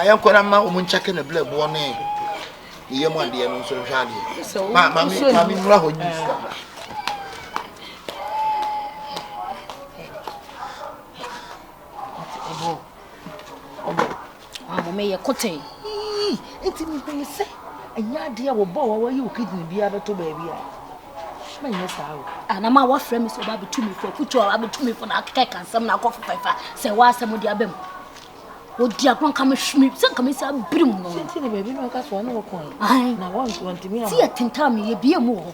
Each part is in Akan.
yɛnkɔ na ma wɔn nkyɛke ne blɛ boɔ ne ne yam adeɛ no nso nhwɛ adeɛ maame mmura hɔ nyi sika Ɔama me yɛ kotee. Yii! Nti mehunu sɛ ɛnyɛ adeɛ a wɔbɔ wa wɔyi wo kidney biara bɛto baabi a. Ma nyɛ saa o. Anama wɔafrɛ me sɛ ɔba bɛtu me fo akutu a abɛtu me fo na akɛkɛka nsɛm na akɔfo pɛfa sɛ wɔasɛm de aba mu. Wɔdi agorɔ nka me hwemi sɛ nka me sɛ abiri mu no. Sɛnti na baabi na ɔka soa ne wɔkɔn na wɔntumi ama. Ti yɛ tentaa me yɛ bie mu wɔ hɔ.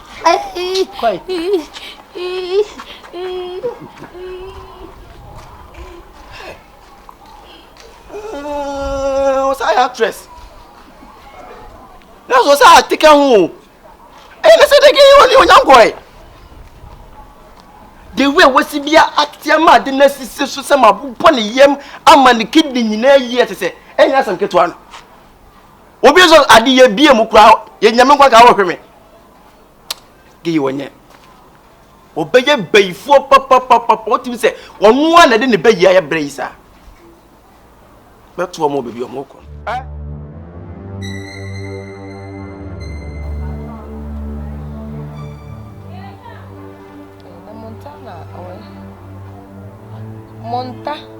ɔsan yɛ actress na sɔ sɛ atika ho o ɛyɛ ne sɛ de ke ɔne onyankɔɛ de wei wɔsi bi ateɛ ma ade no asisi so sɛ mabobɔ ne yam ama ne kidney nyinaa yi ɛte sɛ ɛnyɛ asɛm ketewa no obi nso ade yɛ bie mu kura yɛ nyame nkwa ka ɔhwɛ me geyi wɔnyɛ wɔbɛyɛ bɛyifoɔ papapapa wotumi sɛ ɔno a na ɛde ne bɛyi ayɛ berɛ yi saa bɛtoɔ mu baabi ɔmo kɔ Montana.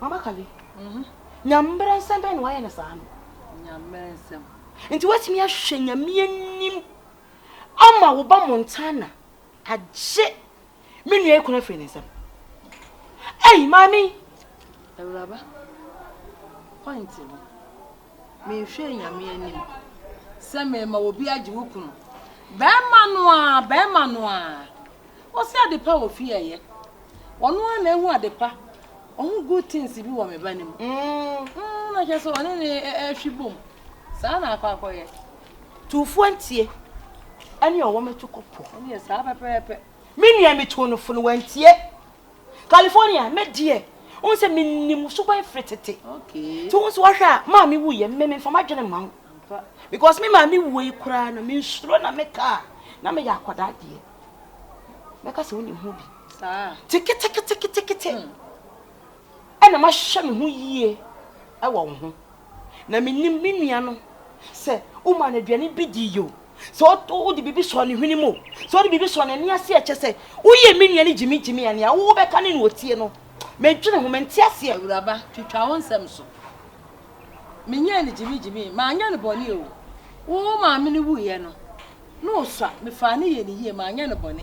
Mama Kali, Nyammerɛ nsɛm bɛn na wayɛ no saa no? Nyammerɛ nsɛm. Nti woatumi ahwɛ Nyame anim ama wo ba Montana agye me nua yi kunu afiri ne nsam. Ei, maame yi! Awuraba, point no. Menhwɛɛ Nyame anim sɛ merema obi agye wo kunu. Bɛɛma no aa, bɛɛma no aa. Ɔse adepa wɔ fie ɛyɛ. Ɔno aa na ahu adepa. Ɔhu good things bi wɔ me ba no mu. Umm umm na kyerɛ sɛ ɔne ne ɛɛhwe bom. Saa na akɔ akɔyɛ. Tuufoɔ ntie ɛne ɔwɔ me to kɔ po. Ɛneɛ saa pɛpɛɛpɛ. Me nua me tuu no fo no wantie. California, me deɛ, wohu sɛ menim wo suban firi tete. Nti wohu sɛ woahwɛ a, maame wuiɛ, me memfa m'adwene mma wo. Because me maame wuo yi koraa no, mensuro na meka a, na meyɛ akwadaa deɛ. Mɛka sɛ wonim ho bi. Nti keteketeketekete ɛna mahwehwɛ me ho yie wɔ wo ho. Na menim me nua no, sɛ womaa no aduane bi diiɛ o, sɛ wode biribi sɔɔ ne hwene mu o, sɛ wode biribi sɔɔ n'ani ase a, ɛkyɛ sɛ woyɛ me nua no gyimigyimi a nea wobɛka ne nea ɔtie no. Mendwene ho, mente aseɛ. Awuraba, twitwa wo nsam so. Menyɛɛ no gyimigyimi, manyɛ no bɔne o. Wo maame no wuiɛ no, na ɔsua, mefaa no yɛɛ no yie, manyɛ no bɔne.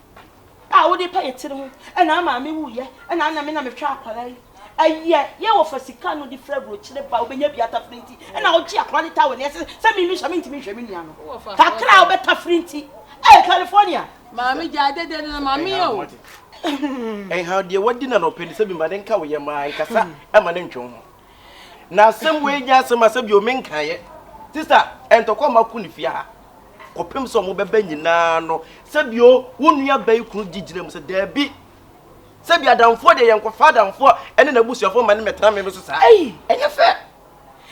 a wode pɛ yɛtiri ho ɛna ama me wu yɛ ɛna ana me na me hwɛ akwara yi ɛyɛ yɛ wɔ fa sika no de fira burokyire ba wobɛnya bi atafiri nti ɛna wogye akwara ne tawe ne ɛsɛ sɛ me mehyɛ me ntumi nhwɛ me nua no kakra a wobɛtafiri nti ɛyɛ California maame gya adede no na maame yɛ o ɛnha deɛ wadi na na ɔpɛ ne sɛ bi ma ne nka wo yɛ maa nkasa ɛma ne ntwe ho Na asɛm wei nyɛ asɛm a sɛ bio menkaeɛ te sɛ a ntɔkwa mma ko ne fie ha kɔpem sɛ ɔmo bɛbɛ nyinaa no sɛ bio wo nua bɛyi kunu gye gyina mu sɛ daabi sɛ bi adamfoɔ deɛ yɛnkɔfa adamfoɔ ɛne n'abusuafoɔ ma ne mɛtena me so saa ɛyi ɛnyɛ fɛ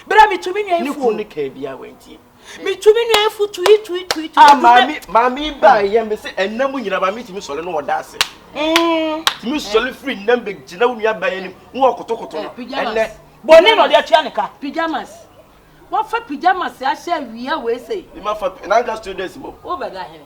berɛ a metu me nua yi fuo ne kunu ne kaa biara wantie metu me nua afu tui tui tui tui. a maame maame yi ba yɛ me sɛ ɛnam nyina maame tumi sɔre no ɔda ase mm. tumi sɔre firi nnam bɛ gyina wo nua ba yɛ nim wo wɔ kotokoto no eh, ɛnɛ bɔne na ɔde atua ne ka pyjamas wafa pyjamas ahyɛ awia wei sei ne ma fa nanka students mo wobɛda hene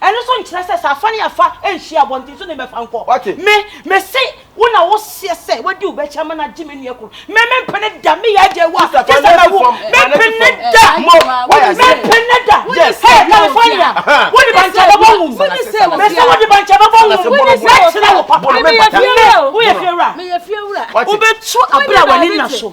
Ɛno nso nkyerɛ sɛ sɛ afa ne afa anhyia a, abɔnten so na ɛbɛfa nkɔ. Me, mese wo na woseɛ sɛ wadi wo bɛkyɛ ama no agye me nua kunu. Me, mempene da, me yɛ agya wa, gye sɛ mawu. Mempene da, mempene da. Hɛ, California, wode bankyɛ bɛbɔ wo mu. Mese wode bankyɛ bɛbɔ wo mu. Mɛkyerɛ wo papa. Me, woyɛ fiewura. Wobɛtu abere a w'ani nna so.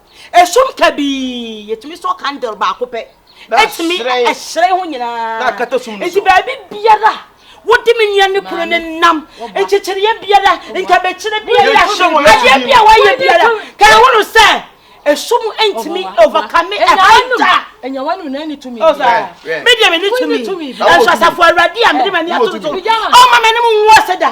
Esum kabii, yɛtumi sɔ candle baako pɛ, ɛtumi ɛhyerɛn ho nyinaa, nti baabi biara wode me nua ne kunu ne nam nkyekyereɛ biara nkabekyerɛ biara adeɛ bi a wɔayɛ biara ka ɛho no sɛ esum ntumi overcome ɛhanta ɛnyɛ wɔn nuna ne tumi medeɛ me ne tumi ɛnso asafo awurade a mede m'ani ato so ɔma m'anim nwo ase da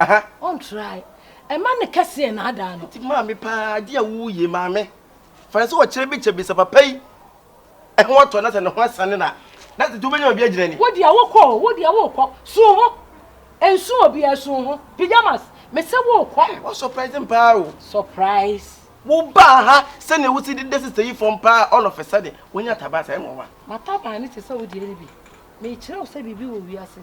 Aha. On try. Ɛma ne kɛseɛ na adaa no. Nti maame paa adi a wo yie maame. Fa no sɛ ɔkyerɛ bi kyɛ bi sɛ papa yi ɛho atɔ na sɛ ne ho asane na na sɛ wobɛnya obi agyina ni. Wo deɛ wokɔ o, wo deɛ wokɔ. Su wo ho. Ɛnsu obiara, su wo ho. Pyjamas, mese wokɔ. Hey, wa surprise me paa o. Surprise. Wo baa ha sɛdeɛ wo si de da sister yi fam paa all of a sudden, wanya taban saa, ɛnwanwa. M'ataban no te sɛ wo deɛ no bi. Mekyerɛ wo sɛ biribi wɔ wiase.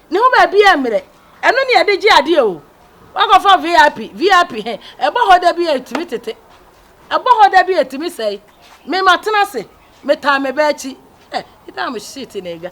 Ne ho baabi a mmerɛ. Ɛno ne yɛde gye adeɛ o. Wakɔfa VIP, VIP he, ɛbɔ hɔ da bi a ɛtumi tete. Ɛbɔ hɔ da bi a ɛtumi sɛe. Me matena ase, metaa me ba akyi. Eh, nipa a mo shit na ɛdwa.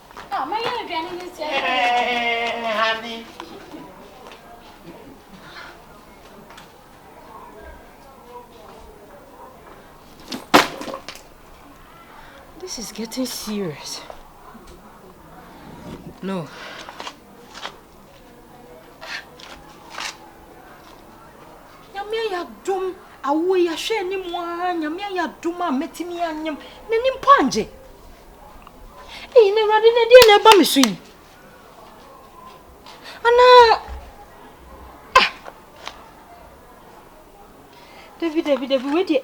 Ah, my yellow drain in this year. Honey. This is getting serious. No. Nyame ya dum awo ya hwɛ ni mu a nyame ya dum a metimi anyem. N'ani mpo angye. Ei, na Awurade na ɛdeɛ na ɛba me so yi? Anaa... Ah! Dabi, dabi, dabi, wei deɛ...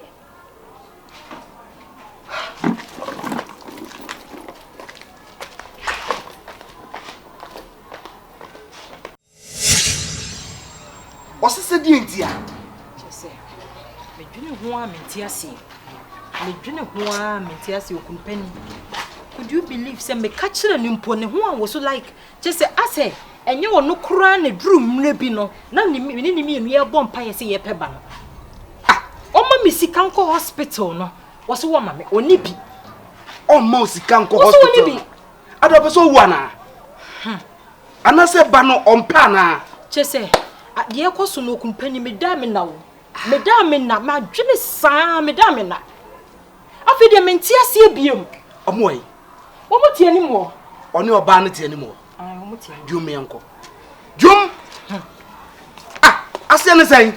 Ɔse sɛ deɛn nti a? Kyerɛ sɛ, medwene ho ara mente aseɛ. Medwene ho ara mente aseɛ okunu pani. Could you believe sɛ meka kyerɛ no mpo ne ho awo so like kyerɛ sɛ asɛ ɛnyɛ ɔno koraa na duru mmerɛ bi no na ne ne ne mmienu yɛbɔ mpaeɛ sɛ yɛpɛ ba no. Ah, ɔma me sika nkɔ hospital no, wɔso wɔma me, ɔni bi. Ɔma o sika nkɔ hospital no? Ada ɔpɛ sɛ ɔwu anaa? Hmm. Anasɛ ba no ɔmpɛ anaa? Kyesɛ a deɛ ɛkɔso no okumpani medaa mena o medaa mena madwene saa medaa mena afei deɛ mente aseɛ biom. Ɔmo wɔ he? Ɔmo te anim hɔ. Ɔne ɔbaa no te anim hɔ. Ɔmo te anim. Dwom yɛnkɔ. Dwom! Ah, aseɛ ne sɛn?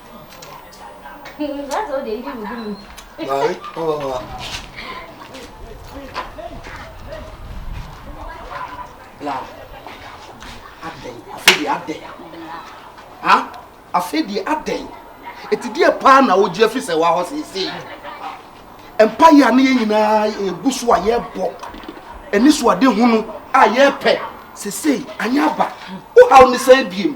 afei deɛ adɛn ɛti deɛ paa na wogye afi sɛ wahɔ seesei mpa yɛ a ne yɛ nyinaa ɛgu so a yɛbɔ ɛne so ade hunu a yɛpɛ seesei anyɛ aba wohaw ne sɛ biem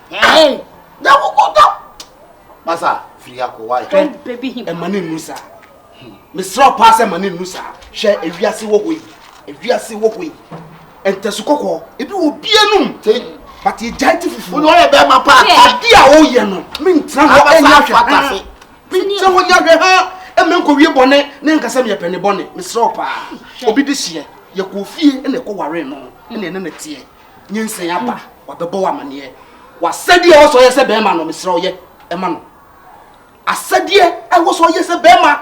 Hey, that will go down. Masa, free ya ko why? Don't baby him. E mani nusa. Hmm. Me sra pass e mani nusa. She e wiase wo hoi. E wiase wo hoi. Ente su koko. E bi wo bia num. Te. But e jai ti fufu. Uno e be ma pa. Adi a o ye no. Me ntra ho e nya hwe. Abasa fa Me ntra ho nya hwe ha. E me nko wie bone. Ne nkasa me ye pene bone. Me sra pa. Obi de hye. Ye ko fie e na e ko ware no. E na e na tie. nyinsɛn aba wabɛbɔ wo amaneɛ wasɛdeɛ ɛwɔ sɛ ɔyɛ sɛ bɛrima no mesrɛ ɔyɛ ɛma no asɛdeɛ ɛwɔ sɛ ɔyɛ sɛ bɛrima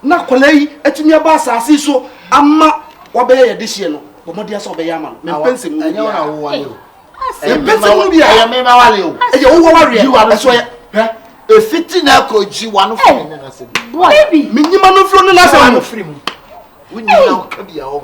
na akwadaa yi atumi aba asase so ama wabɛyɛ yɛde hyeɛ no bɔ mmɔdeɛ sɛ ɔbɛyɛ ama no mempɛ nsɛm mu biara mempɛ nsɛm mu biara ɛyɛ mema wale o ɛyɛ wo wawareɛ ɛso yɛ hɛ efiti na ɛkɔ gyi wa no firi ne na sɛ bi menyima no firi ne na sɛ mu wonyina wo ka bi a ɔho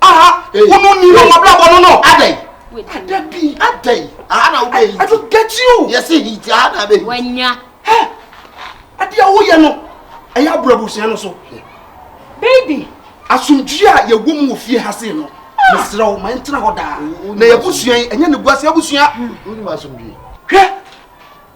aha wonu ni no wabrabɔ no no adɛn ada bi adɛn aha na wobɛ hiti ɛto get you yɛse hiti aha na bɛ hiti wanya hɛ ade a woyɛ no ɛyɛ abura abusua no so baby asomdwie a yɛwɔ mu wɔ fie ha se no mesrɛ wo ma ɛntena hɔ daa na yɛabusua yi ɛnyɛ ne guase abusua hwɛ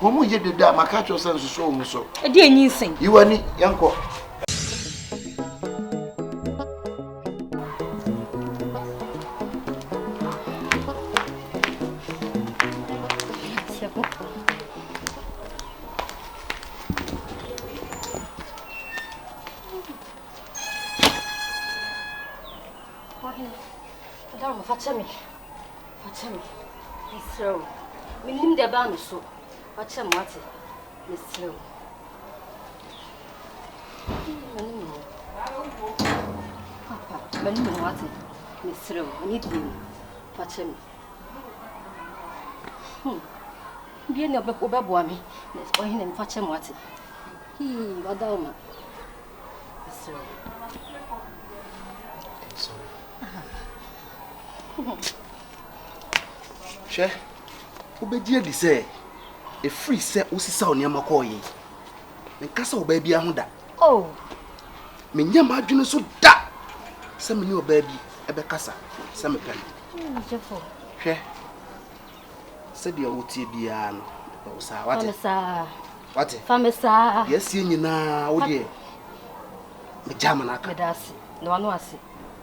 Wɔn mu yɛ dede a maka kyerɛ sɛ nsoso wɔn mu so. Ɛdi enyi nsɛn. Yi w'ani, yɛnkɔ. Fakyɛ me, mesrɛ wo. Mennim deɛ ɛbaa me so. Fakyɛ me, wate? Mesrɛ wo. Mani me ho. Papa, mani me ho, wate? Mesrɛ wo, ani die mu. Fakyɛ me. Hmm. Bie ne wobɛboa me. Ɔhene, mefakyɛ me, wate? Hii, wada wo ma. Mesrɛ wo. Hwɛ, wobɛgye adi sɛ ɛfiri sɛ wosisaw nneɛma kɔɔ yi, menka sɛ ɔbaa biara ho da. Oh. Menyɛ m'adwene so da sɛ me ne ɔbaa bi ɛbɛkasa sɛ mepɛ no. Hwɛ, sɛdeɛ wotie biara no, mepɛ wo saa, wate? Wate? Fa me saa. Deɛ asie nyinaa, wo deɛ, megya ma no aka. Meda ase, na wano ase.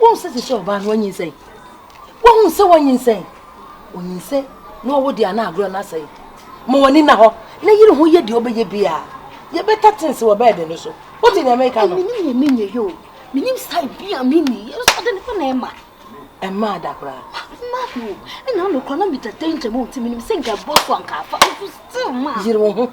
Wohu sɛ sisi ɔbaa no wanyinsɛn. Wohu sɛ wanyinsɛn. Onyinsɛn na ɔwo deɛ ana agorɔ no asɛe. Ma w'ani na hɔ na yere ho yɛ deɛ ɔbɛyɛ biara. Yɛbɛta tense wɔ bɛɛde no so. Wote deɛ meka no? Menim deɛ menyɛ yɛ o. Menim sae bi a menni yɛ. Nso ɔde ne kɔ na ɛma. Ɛma ada koraa. Ma o. Ɛna ano koraa na meda danger mu nti menim sɛ nka ɛbɔ so anka afa. Nso still ma. Yere wo ho.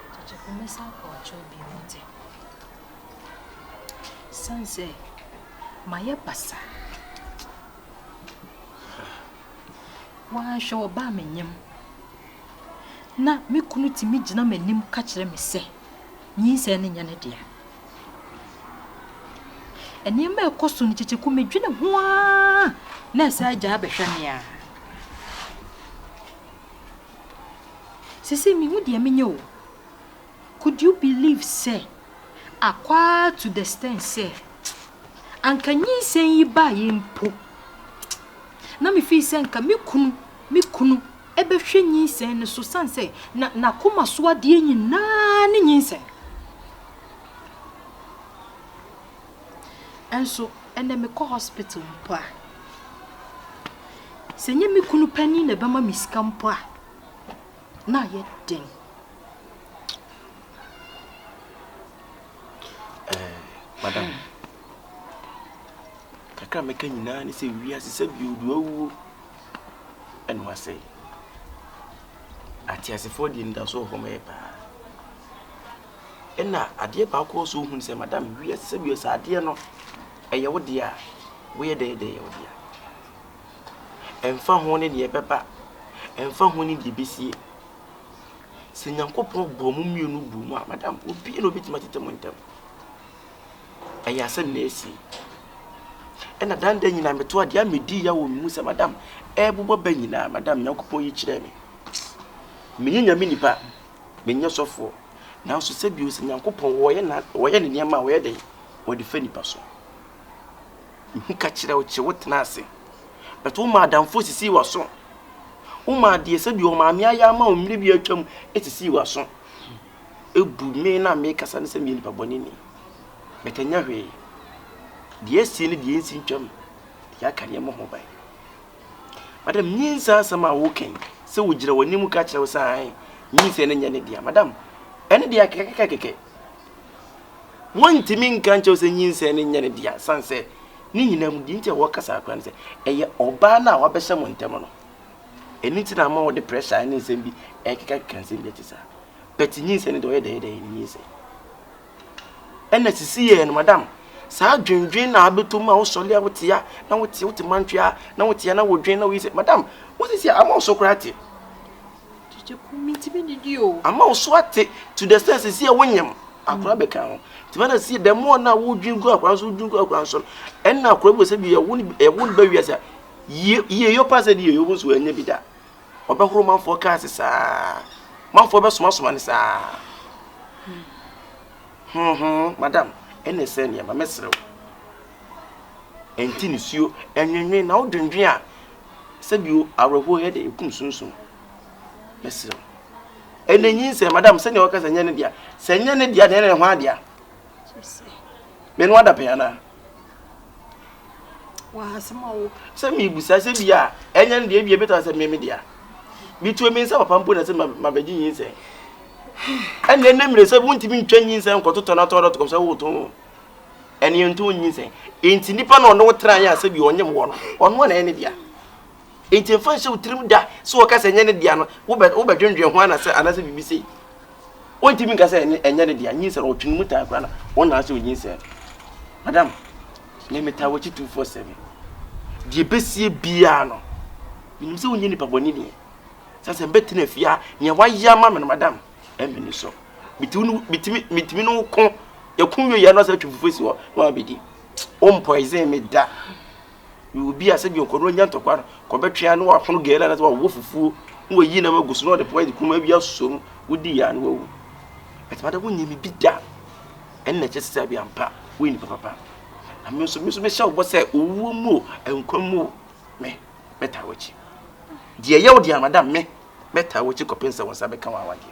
Tɔtɔkɔ mɛsan akɔ akyerɛw bio wate. Ɛsiane sɛ mayɛ basaa. Woanhwɛ ɔbaa me nyam. Na me kunu tumi gyina m'anim ka kyerɛ me sɛ nyinsɛn no nyɛ ne dea. Nneɛma a ɛkɔ so no kyekyeku medwene ho ara na ɛsɛ agya abɛhwɛ me a. Sesei mehu deɛ menyɛ o. Could you believe sɛ akwaa to the stand sɛ anka nyinsɛn yi baeɛ mpo na me feel sɛ nka me kunu me kunu bɛhwɛ nyinsɛn no so sane sɛ na n'akoma so adeɛ nyinaa ne nyinsɛn. Nso ɛnnɛ mekɔ hospital mpo a, sɛ ɛnyɛ me kunu panin na ɛbɛma me sika mpo a, na ayɛ den. Eh, madam, kakra mɛka nyinaa ne sɛ wiase sɛ biodu awuo ɛne wasɛe. Ateasefoɔ deɛ nnidaso wɔ hɔ ma yɛ paa. Nna adeɛ baako a ɔsɛ ɔhu ne sɛ, Madam, wiase sɛ wiase adeɛ no, ɛyɛ wo dea a, woyɛ dɛn yɛ dɛ ɛyɛ wo dea? Ɛmfa ho ne deɛ ɛbɛba, ɛmfa ho ne deɛ ɛbɛsie. Sɛ Nyankopɔn bɔɔ mo mmienu buu mu a, Madam, obiara na ɔbɛtumi atete mo ntam. Ɛyɛ asɛm na ɛsi. Ɛna dan da nyinaa metoa deɛ a medi ya wɔ me mu sɛ, Madam, ɛrebobɔ bɛ nyinaa, Madam, Nyankopɔn yi kyerɛ me. Menyɛ nyame nipa, menyɛ sɔfoɔ. Nanso sɛ bio sɛ Nyankopɔn wɔyɛ na wɔyɛ ne nneɛma a wɔyɛ dɛn wɔde fa nipa so. Mehu ka kyerɛ wo kye wo tena ase. Bɛto wo ma adamfoɔ sisii w'aso. Wo ma adeɛ sɛ bio maame ayɛ ama wo mmiri bi atwam sisii w'aso. Ebu me na me kasa ne sɛ meyɛ nipa bɔne ni. Bɛtɛnyɛ hwee. Deɛ asi ne deɛ nsi ntwam deɛ aka nneɛma ho ban. Madam, nyinsɛn asɛm a wo kɛn sɛ ogyina w'anim ka kyerɛ wo sɛ ae, nyinsɛn no nyɛ ne dea. Madam, ɛne dea kɛkɛkɛkɛkɛ. Wɔntumi nka nkyɛw sɛ nyinsɛn no nyɛ ne dea, san sɛ ne nyinaa mu deɛ nti a wɔkasa akora no sɛ ɛyɛ ɔbaa no a wabɛhyɛ mo ntam no. Ɛno nti na ama wɔde pressure ne nsɛm bi ɛkekakeka nsɛm bi ɛte saa. But nyinsɛn no deɛ ɔyɛ dɛyɛdɛyɛ ne nyinsɛn. Ɛna sisi yɛɛ no madam saa adwendwen na abɛtɔ mu a wosɔle a wote a na wote wote mantwe a na wote a na wodwen na woyi sɛ madam wosisi a ama wo so koraa ate ama wo so ate to the sense sisi a wonyam akora bɛka ho nti bɛna sisi dɛm mo na wodwen gu akora nso wodwen gu akora nso ɛna akora bi wɔ sɛ bi ɛwo ɛwo no bɛwi ase a yie yie yɛ ɔpa sɛ de yɛ yɛ ɔbo nso ɛnyɛ bi da. ɔbɛhoro manfoɔ kaa se saa manfoɔ bɛsomasoma ne saa hoho madam ɛne sɛ nneɛma mɛserɛ wo ɛnti nisuo ɛnwenwen na wodwendwen a sɛbio awerɛhoɔ yɛ de ɛkum sunsum mɛserɛ wo ɛna nyin sɛ madam sɛnea wɔka sɛ nyɛ ne dea sɛ nyɛ ne dea deɛ ne ho adea menoa da pɛn anaa sɛ mebusa sɛ bi a ɛnyɛ no deɛ bia bɛtɔ sɛ meme dea bituo me nsa papa mpo na sɛ mabɛgye nyinsɛn ɛne ɛne mmerɛ sɛ wontumi ntwa nyinsɛn nkɔtotɔ no atɔ dɔ tokɔm sɛ woto ɛne ɛnto nyinsɛn ɛnti nnipa na ɔne wo tra yɛ a sɛ bi ɔnyem wɔ no ɔno a na ɛne dea Enti mfa nhyɛ wo tirim da sɛ wɔka sɛ ɛnyɛ ne dea no, wobɛdwendwen ho anasɛ anaasɛ biribi sei. Wontumi nka sɛ ɛnyɛ ne dea. Nyinsɛn no, ɔtwe ne mu taa koraa na ɔnaa sɛ onyinsɛn no. Madam, me metaa w'akyi 247. Deɛ ɛbɛsie biara no, menim sɛ wonyɛ nipa bɔne nie. Sɛ sɛ mbɛtena fie a, nea wayɛ ama me no, madam, ɛmmɛ ne so. Metumi ne wo ko, yɛko wieɛ na ɔsɛ atwe fufuo si hɔ na wabɛdi. Wompɔisen me da. Meyɛ obi a sɛdeɛ ɔkɔdɔ nya ntɔkwa no, kɔbɛtwe a na wapono gɛlɛ anaasɛ wawɔ fufuo na wayi nam agu so na ɔde pɔn de kum awi asosɔ mu. Wodi yɛ a na wawu. Ɛtuma da wonyɛ me bi da. Ɛno na ɛkyɛ sɛ sɛ bi ampa woyɛ nipa papa. Na me nso me nso mehyɛ wo bɔ sɛ owuo mu o nkwa mu o me mɛtaa w'akyi. Deɛ ɛyɛ wo deɛ madam me mɛtaa w'akyi kɔpem sɛ wo nsa bɛka w'awadeɛ.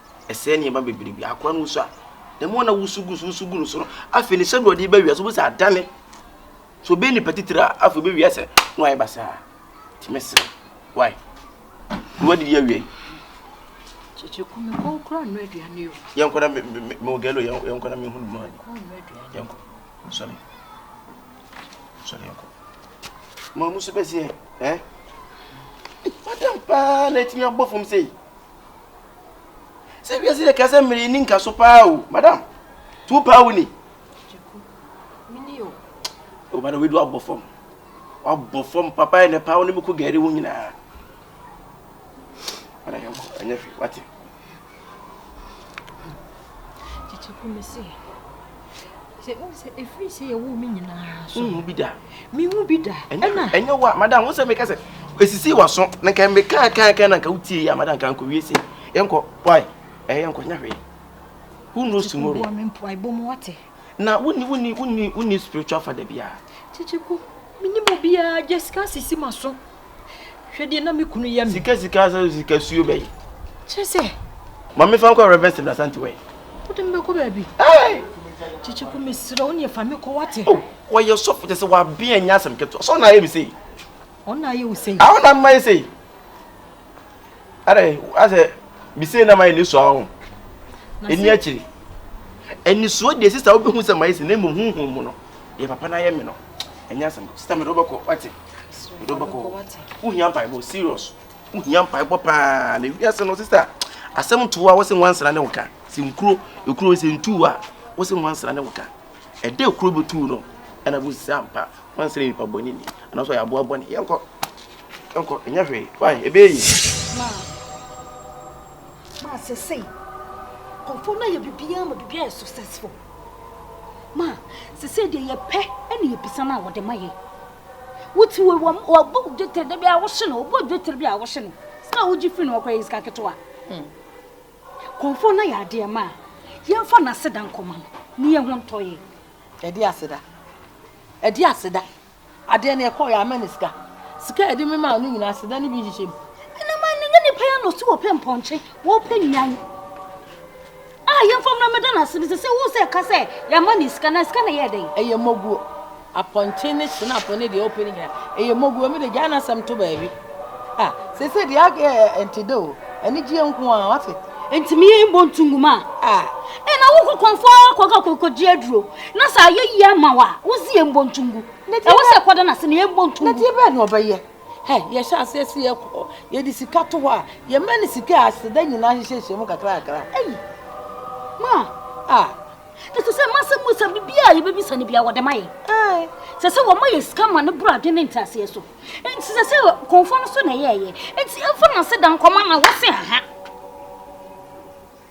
ɛsɛe nneɛma bebree bi. Akoa no wusu a, ne mu na wusu gu so wusu gu no so no, afei ne sɛdeɛ ɔde bɛwia so wobɛsɛ adane so bɛyɛ nipa titiri a afei bɛwia sɛ na wayɛ basaa tumi serɛ wae ne wadidi awia yi yɛnkɔ na mewɔ galo yɛnkɔ na mehunu mu ade yɛnkɔ sɔre sɔre yɛnkɔ ma mu so bɛseɛ eh? madam paa na atumi abɔ fam sei Sɛ wiase yɛ kasa mmiri nni nkaso paa o, madam. Nti wo paa wo ni? Gyaku, mini o. O madam, wei de wabɔ fam. Wabɔ fam papa yɛ ne paa wo ne me ko gari wo nyinaa. Madam yɛn kɔ, ɛnyɛ hwee, wate. Gyaku, mese. sɛ wohu sɛ ɛfiri sɛ yɛwoo me nyinaa so wohu bi da mehu bi da ɛna ɛnyɛ wo a madam wo sɛ meka sɛ ɛsisii waso na nka meka kankan na nka wotie yi a madam ka nkɔwie sei yɛnkɔ wae ɛyɛ yɛnkɔ nyɛ hwee who knows tomorrow na wonni wonni wonni wonni spiritual father biara kyekyeko menim obiara jessica sisi ma so Hwɛ deɛ na me kunu yɛ me. Sika sika sɛ sika suo bɛyi. Kyerɛ sɛ. Ma me fa nkɔ Reverend Stephen Asante wɛ. Wode me bɛkɔ baabi. Kyekye ko mesrɛ wo ne fa me kɔ wate. Oh, wɔyɛ sɔfo kyɛ sɛ wabea nyɛ asɛm ketewa. Sɛ ɔna ayɛ me sei. Ɔna ayɛ wo sei. Ah, ɔna mma yɛ sei. Adɛ, asɛ mesei na mayɛ ne sua ho. Ɛni akyiri. Ɛni suo deɛ sista wobɛhu sɛ mayɛ sei na mmom honhom mu no. Yɛ papa no ayɛ me no. Ɛnyɛ asɛm. Sista mede wobɛkɔ wate. wohia mpaebɔ serious wohia mpaebɔ paa na wiase no sista asɛm to a wose nwansena ne woka sɛ nkuro ekuro sɛ ntu a wose nwansena ne woka ɛdɛ ekuro bɛtu no ɛna bɛsisi ampa nwansena nipa bɔ ne ni anaso yɛ aboa bɔ ne yɛnkɔ yɛnkɔ ɛnyɛ hwee fine ɛbɛyɛ yi maa sɛ sɛi kɔmfo no ayɛ biribiaa ma biribiaa yɛ successful Ma, sesei deɛ yɛpɛ ne yɛbisa no a wɔde ma yɛn. Wote wei wɔ wɔbu dwetire da bi a wohye no wobu dwetire bi a wohye no sika a wogye firi no ɔkora yɛ sika ketewa. Hmm. Kɔnfoɔ no yɛ adeɛ ma a yɛmfa no aseda nkɔma no ne yɛho ntɔ yɛ. Ɛde aseda ɛde aseda Adeɛ no ɛkɔɔ yɛ ama ne sika. Sika a yɛde me maa no nyinaa aseda no bi nhyehyɛ mu. Ɛna man no nyɛ nipa yɛ na ɔsi wɔpɛ mpɔnkye wɔpɛ nnuan a yɛmfa mmra mɛda no ase no sɛ sɛ wo sɛ ɛka sɛ yɛama ne sika na sika na ɛyɛ dɛn ɛyɛ mmoguo apɔnkye ne senafo ne deɛ wɔpɛ no nyinaa ɛyɛ mmoguo me de gyaa no asɛm to baabi a sɛ sɛ deɛ agɛ ɛnte dɛ o anigyeɛ nko a wate ntumi yɛ mbɔ ntungu ma a ɛna wo kɔkɔmfoɔ akɔka kɔkɔgye aduro Na sɛ ayɛ yie ama wo a, wodze yɛ mbɔ ntungu. Ɛwɔ sɛ ɛkɔda no ase na yɛbɔ ntungu. Na deɛ bɛn na ɔbɛyɛ? Hɛ, yɛhyɛ aseɛ sɛ yɛkɔ, yɛde sika to hɔ a, yɛma no sika a aseda nyinaa hyehyɛhyɛ mu kakrakakra. Ei, ma! A! Na sɛ sɛ mma asɛm mu sɛ biribiara a yɛbɛbisa no biara wɔde ma yɛn. Ae. Sɛ sɛ wɔma yɛn sika ma no boro adwene ne nteaseɛ so. Enti sɛ sɛ kɔmfoɔ no so na ɛyɛɛyɛ. Enti ɛmfa n'aseda nkɔma na wɔse aha.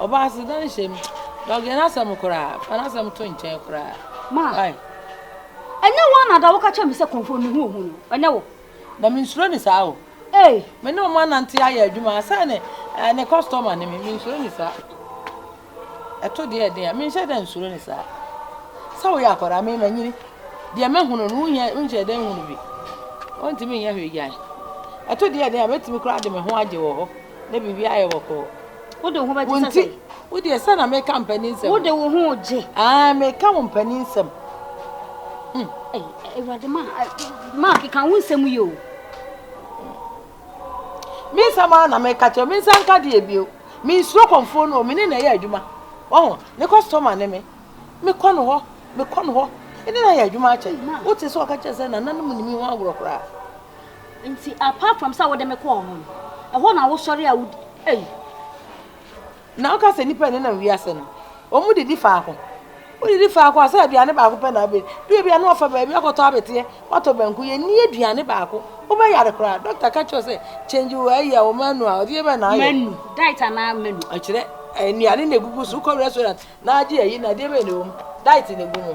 Ɔbaa se dan hyɛ mu. Dɔge n'asɛm koraa. Fa n'asɛm to nkyɛn koraa. Ma. Ai. Ɛnyɛ wo ana da woka kyerɛ me sɛ kɔmfo mehu ohu no? Ɛnyɛ wo? Na mensuro ne saa o. Ei. Me ne wɔn anante ayɛ adwuma sɛ ne eh, ne kɔstɔma ne me. Mensuro ne saa. Ɛto deɛ ɛden a, menhyɛ da nsuro ne saa. Sɛ woyɛ akwadaa, me manyini. Deɛ mahunu no, wonyɛ wonhyɛ da nhunu bi. Wontumi nyɛ hwee gyan. Ɛto deɛ ɛden a, mɛtumi koraa de me ho agye wɔ hɔ. Na biribiara ayɛ bɔkɔɔ. Wo de wo ho bɛgye sɛ sɛn? Wo deɛ sɛ na meka mpanin nsɛm. Wo de wo ho gye. Aa meka wo mpanin nsɛm. Awurade ma ma keka wo nsɛm yi o. Me nsɛm ara na meka kyerɛ me nsa nka deɛ bio. Me nsuro kɔmfoɔ no o me ne na ɛyɛ adwuma. Ɔho ne kɔstɔma ne me. Mekɔ no hɔ mekɔ no hɔ. Ɛne na yɛ adwuma akyɛ. Wote sɛ ɔka kyerɛ sɛ nananom nni me ho agorɔ koraa. Nti apart from sɛ wode me kɔɔ hɔ no, ɛhɔ na wosɔre a wodi ei. Na woka sɛ nnipa a ɛnenam wiase no, wɔn didi faako. Wodidi faako a sɛ aduane baako pɛ na abɛ. Du ebi a na wɔfa baabi akɔtɔ abɛteɛ, wɔatɔ banku, yɛnni aduane baako. Wobɛyare koraa. Dɔkta ka kyerɛ sɛ change wo ayi a wo menu a, ɔdeɛ bɛn na ayɛ. Menu, diet anaa menu? Ɛkyerɛ nnuane na egugu so, wokɔ restaurant na agye ayi na adeɛ bɛn na ɛwɔ mu? Diet na egu mu.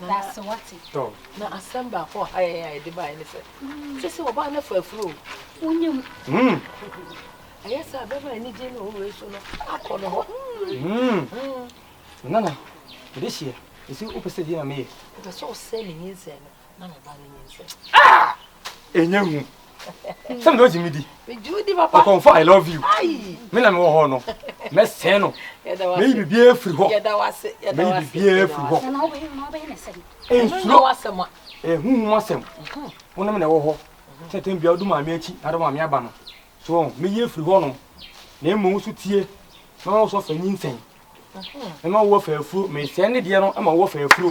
Na ase wate. Tɔ. Na asɛm baako a ɔha yɛn a yɛde baeɛ ne sɛ, Kyerɛ sɛ ɔbaa no afa afuro o. Wonnya mu. Ɛyɛ sɛ a bɛrima a anigye ne ɔwɔ wei so no akɔ ne hɔ. Nana, mede hyeɛ. Ɛsɛ wopɛ sɛ deɛ na meyɛ. Wopɛ sɛ ɔsɛe ne nyinsɛn no. na me ba no nyinsɛn. Ah! Enye hu. Sɛ mede ogye me di. Megye wo di papa. Ɔkɔmfo I love you. Me na mewɔ hɔ no. Mɛsɛn no. Meyi biribiara firi hɔ. Meyi biribiara firi hɔ. Nsuro. Ehuhum asɛm. Wo ne me na ɛwɔ hɔ. Tɛntɛn bia wodu maame akyi na de maame aba no. So wɔn meyi afiri hɔ nom. Na mmom wo so tie. Mɛma wo so afa nyinsɛn. Mɛma wo afa afuro. Mesɛn ne deɛ no ma wo afa afuro.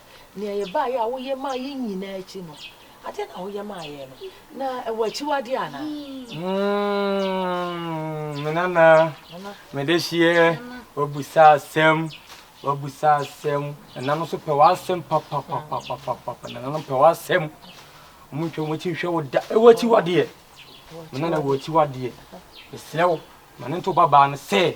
Nea yɛbaeɛ a woyɛ maa yɛn nyinaa akyi no, adeɛ na woyɛ maa yɛn no, na ɛwɔ akyiwadeɛ anaa? Mm, me nana, mede hyeɛ, wabusa asɛm, wabusa asɛm. Nana no nso pɛ w'asɛm papapapapapa, nana no pɛ w'asɛm. Wɔn ntwa wɔn akyi nhwɛ wo da, ɛwɔ akyiwadeɛ. Me nana ɛwɔ akyiwadeɛ. Mesrɛ wo, ma ne nto babaa no sɛ,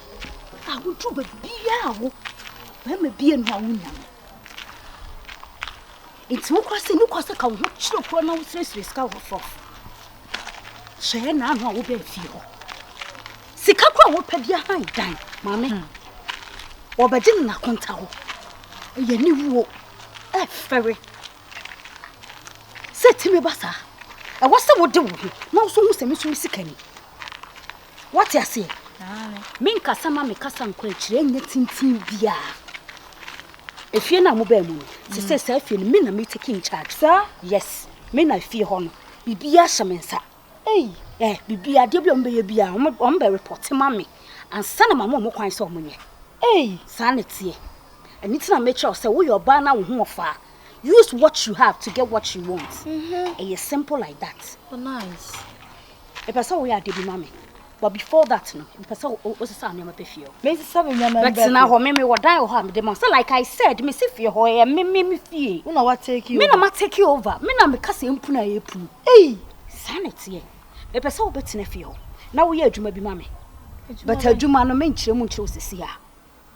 a wotu baabiara a wo bɛrima bi anu a wonya no nti wokora sɛ ne kora sɛ ka wo ho kyerɛ kora na wosrɛsrɛ sika wɔ sɔfo hyɛɛ naano a wobɛn fie hɔ sika kora a wopɛ bia han dan maame hmm. wɔbɛgye no nakonta hɔ ɛyɛ ne wuo ɛfɛre sɛ timi ba saa ɛwɔ sɛ wode wo ho na woso hu sɛ me so me sika ni Woate aseɛ? Me nkasa ma me kasa nkwankyerɛ nyɛ tenten biara. Efie no a mobaa mu no, te sɛ saa fie no, me na me take in charge. Saa? Yes, me na fie hɔ no, biribiara hyɛ me nsa. Ei, eh, biribiara, adeɛ bi a wɔbɛyɛ biara, wɔn bɛ report ma me, ansa na ma mo wɔn kwan sɛ wɔn nyɛ. Ei. Saa na ɛteɛ. Ɛno ti na mekyerɛ wo sɛ woyɛ ɔbaa na wo ho ɔfa a, use what you have to get what you want. Mm-hmm. Ɛyɛ simple like that. Oh, nice. Mepɛ sɛ woyɛ ade bi ma me. But before that no, mepɛ sɛ wosesa nneɛma pɛ fie hɔ. Mesesa me nneɛma mbɛ. Bɛtena hɔ, me me wɔ dan wɔ hɔ a mede ma. So like I said, mesi fie hɔ, ɛyɛ me me me fie. Wo na wa take over. Me na ma take over. Me na meka sɛ mpunu a yɛpunu. Ei! Saa na ɛteɛ. Mepɛ sɛ wobɛtena fie hɔ na woyɛ adwuma bi ma me. But adwuma no menkyerɛ mu nkyerɛ wo seesei a.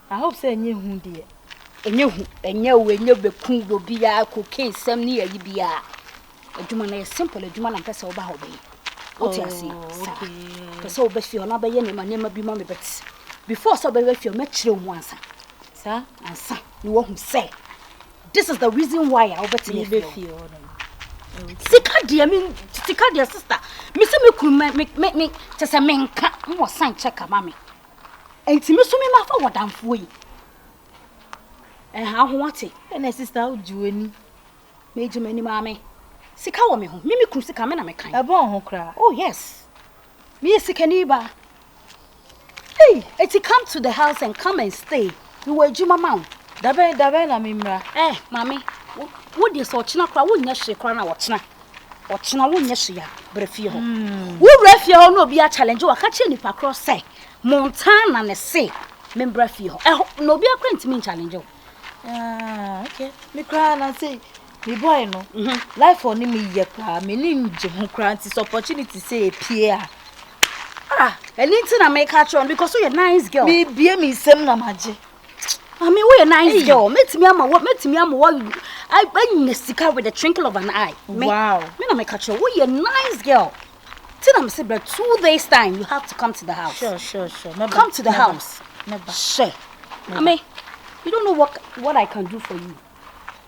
I hope sɛ ɛnyɛ hu deɛ. Ɛnyɛ hu, ɛnyɛ wo, ɛnyɛ bɛku wɔ biara, cocaine sɛm ne ayi biara. Adwuma no yɛ simple adwuma na mpɛ sɛ woba hɔ bɛyɛ. Wote oh, ase? Saa. Pɛ sɛ wobɛ fie hɔ na bɛyɛ nneɛma nneɛma bi ma me bɛte. Before sɛ wobɛbɛ fie hɔ mɛkyerɛ wo mu ansa. Saa ansa na woahu sɛ this is the reason why a wobɛtumi afie hɔ. Sika deɛ me sika deɛ sister me sɛ me kunu me me me kyɛ sɛ menka wɔ san kyɛ kama me. Enti me so me ma fa wɔdamfoɔ yi. Ɛha ho ate. Ɛna sista wogye w'ani. Megye m'ani maame. Sika wɔ me ho. Me me kunu sika me na me kan. Ɛbɔn ho koraa. Oh yes. Me yɛ sikani ba. Hey, eti come to the house and come and stay. Me wɔ adwuma ma wo. Dabɛn dabɛn na me mmra. Eh, maame. Wo deɛ sɛ ɔkyena koraa wonyɛ hwee koraa na ɔkyena. Ɔkyena wonyɛ hwee a, brɛ fie hɔ. Mm. Wowura fie hɔ na obi akyalengye waka kyerɛ nipa korɔ sɛ Montana ne se membra fie hɔ. Ɛhɔ na obi akora ntumi nkyalengye wo. Ah, okay. Me koraa na sei me boy no mhm. life ɔ ne meyɛ koraa m'ani ngye ho koraa nti sɛ opportunity sɛ ɛpie a ah ɛno nti na meka kyerɛ no because woyɛ nice girl mebie me nsɛm na magye Mami, woyɛ nice girl. Mɛtumi ama wɔ mɛtumi ama wɔ anya sika with the twinkle of an eye. Me, wow. Me na meka kyerɛ woyɛ nice girl. Ti na mese bɛ two days time you have to come to the house. Sure, sure, sure. Meba, come to the meba, house. Meba. Hyɛ. Mami, you don't know what, what I can do for you.